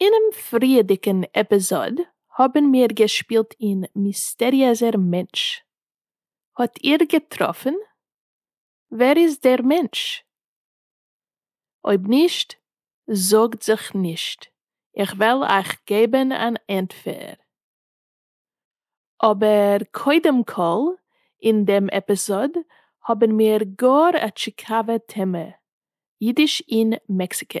אינעם פריעדיגן עפיזאד האבן מיר געשפילט אין מיסטעריעזער מענטש. האט איר געטראפן ווער איז דער מענטש? אויב נישט, זארגט זיך נישט, איך וועל אייך געבן אן ענטפער. אבער קודם כל, אין דעם עפיזאד האבן מיר גאר א טשיקאווע טעמע, אידיש אין מעקסיקא.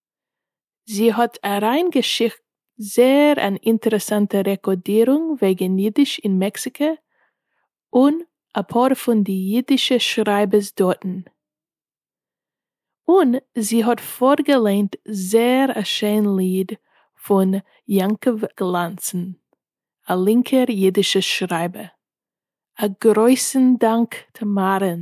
זי האט אריין געשיקט זעהר אן אינטערעסאנטע רעקאדירונג וועגען אידיש אין מעקסיקא און אפאר פון די אידישע שרייבערס דארטן און זי האט פארגעליינט זעהר א שיין ליד פון יעקב גלאנצן א לינקער אידישע שרייבער א גרויסן דאנק תמרן.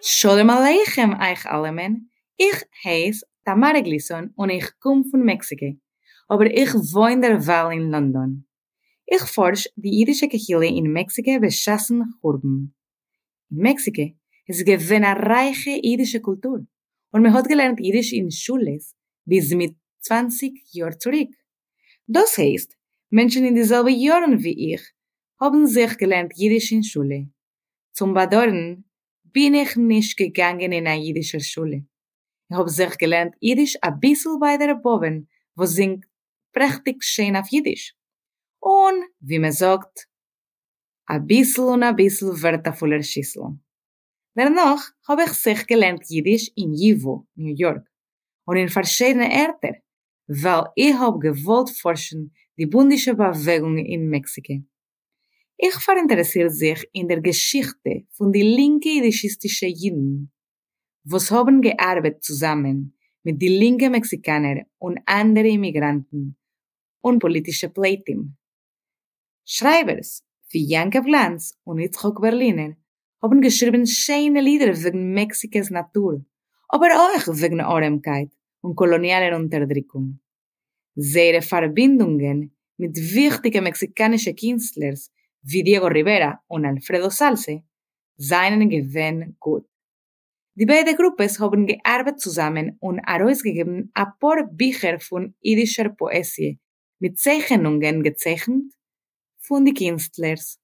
שלום עליכם אייך אלעמען, איך הייס טאמארע גליסאן און איך קום פון מעקסיקא, אבער איך וואוין דערווייל אין לאנדאן. איך פארש די אידישע קהילה אין מעקסיקא בשעת'ן חורבן. אין מעקסיקע איז געווען א רייכע אידישע קולטור און מען האט געלערנט אידיש אין שולעס ביז מיט צוואנציג יאר צוריק, דאס הייסט מענטשן אין די זעלבע יארן ווי איך האבן זיך געלערנט אידיש אין שולע, צום באדוירן בין איך נישט געגאנגען אין א אידישער שולע, איך האב זיך געלערנט אידיש אביסל ביי דער באבען וואס זינגט פרעכטיג שיין אויף אידיש, און ווי מען זאגט אביסל און אביסל ווערט א פולער שיסל. דערנאך האב איך זיך געלערנט אידיש אין י ו, ניו יארק, און אין פארשידענע ערטער, ווייל איך האב געוואלט פארשן די בונדישע באוועגונג אין מעקסיקע. איך פאראינטערעסיר זיך אין דער געשיכטע פון די לינקע אידישיסטישע אידן וואס האבן געארבעט צוזאמען מיט די לינקע מעקסיקאנער און אנדערע אימיגראנטן און פאליטישע פליטים. שרייבערס ווי יעקב גלאנץ און יצחק בערלינער האבן געשריבן שיינע לידער וועגן מעקסיקע'ס נאטור, אבער אויך וועגן ארעמקייט און קאלאניאלער אונטערדריקונג. זייערע פארבינדונגען מיט וויכטיגע מעקסיקאנישע קינסטלערס ווי דיעגא ריווערא און אלפרעדא סאלסע זיינען געווען גוט. די ביידע גרופעס האבן געארבעט צוזאמען און ארויסגעגעבן אפאר ביכער פון אידישער פאעזיע מיט צייכענונגען געצייכנט פון די קינסטלערס.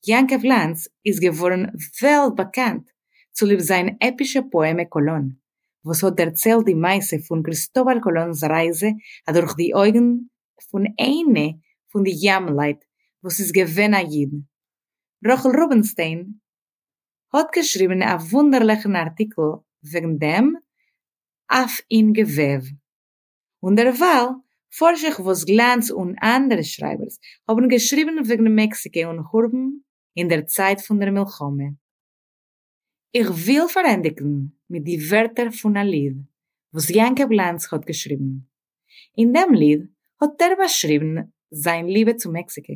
יעקב לאנץ איז געווארן וועלט באקאנט צוליב זיין עפישע פאעמע קאלון, וואס האט דערציילט די מעשה פון קריסטאבל קאלון'ס רייזע אדורך די אויגן פון איינע פון די ימלייט וואס איז געווען א איד. רחל רובינשטיין האט געשריבן א וואונדערליכן ארטיקל וועגן דעם אויף אין געוועב. און דערווייל פארש איך וואס גלאנץ און אנדערע שרייבערס האבן געשריבן וועגן מעקסיקע און חורבן אין דער צייט פון דער מלחמה. איך וויל פארענדיגן מיט די ווערטער פון א ליד וואס יעקב לאנץ האט געשריבן. אין דעם ליד האט ער באשריבן זיין ליבע צו מעקסיקע,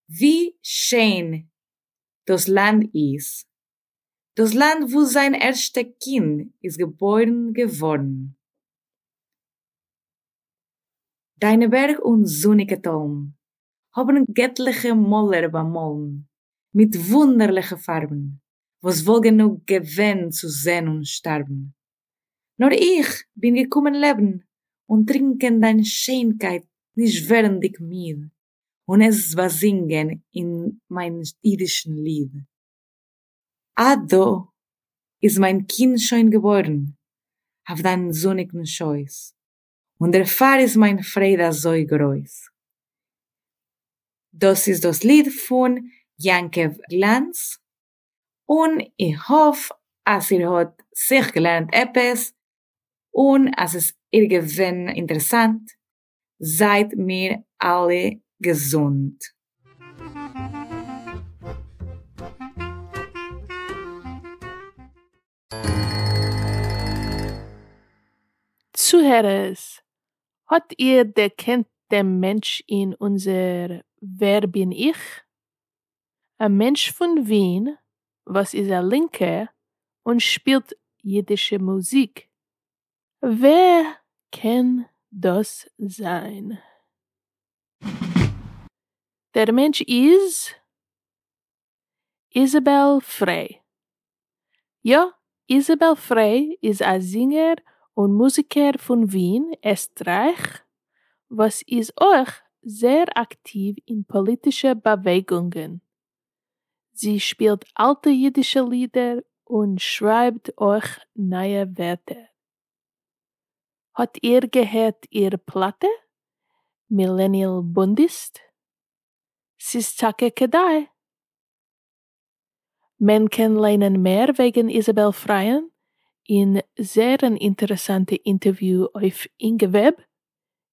ווי שיין דאס לאנד איז, דאָס לאַנד וווּ זײַן ערשטע קינד איז געבוירן געוואָרן. דײַנע בערג און זוניקע טאָלן האָבן געטלעכע מאָלער באַמאָלן מיט וווּנדערלעכע פֿאַרבן, וואָס וואָלט גענוג געווען צו זען און שטאַרבן, נאָר איך בין געקומען לעבן און טרינקען דײַן שענקייט נישט ווערנדיק מיד, און עס באַזינגען אין מײַן ייִדישן ליד. אט דא איז מיין קינד שוין געבוירן אויף דיין זוניגן שויס, און דערפאר איז מיין פרייד אזוי גרויס. דאס איז דאס ליד פון יעקב גלאנץ, און איך האף אז איר האט זיך געלערנט עפעס, און אז עס איר געווען אינטערעסאנט, זייט מיר אלע געזונט. צוהערערס, האט איר דערקענט דעם מענטש אין אונזער ווער בין איך? א מענטש פון ווין וואס איז א לינקער און שפילט אידישע מוזיק. ווער קען דאס זיין? דער מענטש איז איזעבעל פרעי. יא, איזעבעל פרעי איז א זינגער און מוזיקער פון ווין, עסטרייך, וואס איז אויך זייער אקטיוו אין פאליטישע באוועגונגען. זי שפילט אלטע אידישע לידער און שרייבט אויך נייע ווערטער. האט איר געהערט איר פלאטע? מילעניעל בונדיסט? ס'איז טאקע כדאי. מען קען ליינען מער וועגן איזעבעל פרייען אין זייער אן אינטערעסאנטע אינטערוויו אויף אינגעוועב,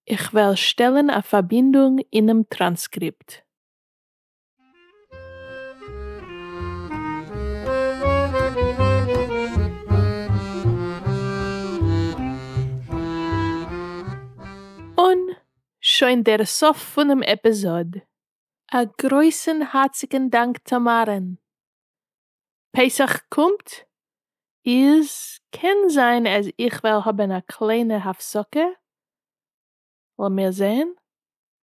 איך וועל שטעלן א פארבינדונג אינעם טראנסקריפט. און שוין דער סוף פונעם עפיזאד. א גרויסן הארציגן דאנק טאמארען. פסח קומט, איז קען זיין אז איך וועל האבן א קליינע הפסקה, לאמיר זעהן.